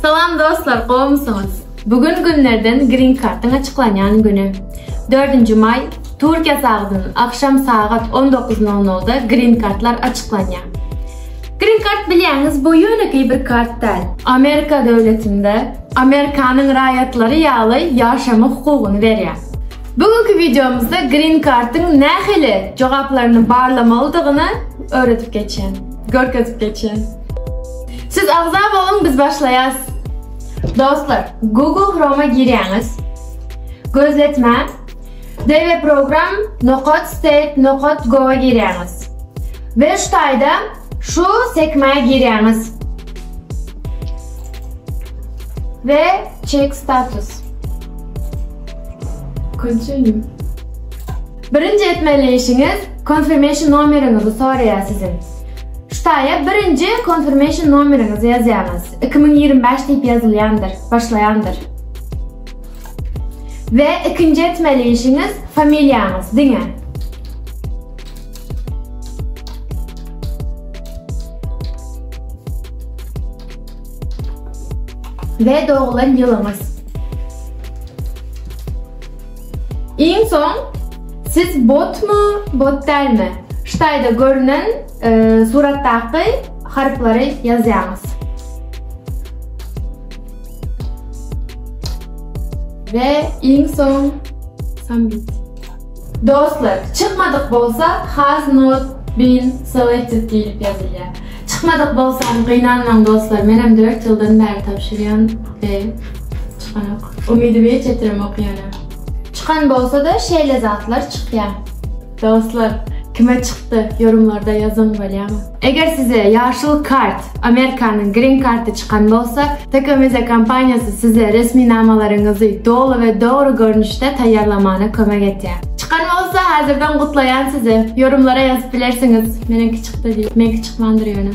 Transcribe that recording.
Salam dostlar gowmysyňyz? Bu gün günlerden green kartyň açyklanýan güni. Dördünji maý, Türkiýe sagdyn, agşam sagat on dokuz nol nolda green kartlar açyklanýar. Green kart bilýäňiz bu ýönekeý bir kart däl. Amerika döwletinde Amerikanyň raýatlary ýaly ýaşama hukugyny berýär. Bu günki wideomyzda green kartyň nähili jogaplaryny barlamalydygyny öwredip geçýän, görkezip geçýän. Siz agza boluň, biz başlaýas. Dostlar, Google Chrome-a girýäňiz. Gözletmä. Deve program nokat state nokat go-a girýäňiz. We şu taýda şu sekmä girýäňiz. We check status. Continue. Birinji etmeli işiňiz Confirmation nomeriňizi soraýar siziň. Ştaýa birinji Confirmation nomeriňizi ýazýaňyz. Iki müň ýigrimi bäş diýip ýazylýandyr, başlaýandyr. We ikinji etmeli işiňiz Familiýaňyz diňe. We doglan ýylyňyz. Iň soň siz botmy, bot dälmi? Ştaýda görnen suratdaky harplary ýazýaňyz. We iň soň submit. Dostlar, çykmadyk bolsa has not bin selected diýlip ýazylýar. Çykmadyk bolsam gynanmaň dostlar menem dört ýyldan bäri tabşyrýan we çykanok. Umydymy hiç ýetiremok ýöne. Çykan bolsada şeýle zatlar çykýa. Dostlar kime çykdy ýorumlarda ýazyň bolýamy. Eger size ýaşyl kart, Amerikanyň green karty çykan bolsa, Tekomeza kompaniýasy size resminamalaryňyzy doly we dogry görnüşde taýýarlamana kömek etýär. Çykan bolsa hazirden gutlaýan sizi. Ýorumlara ýazyp bilersiňiz. Meniňki çykdy. Bedi, meňki çykmandyr ýöne.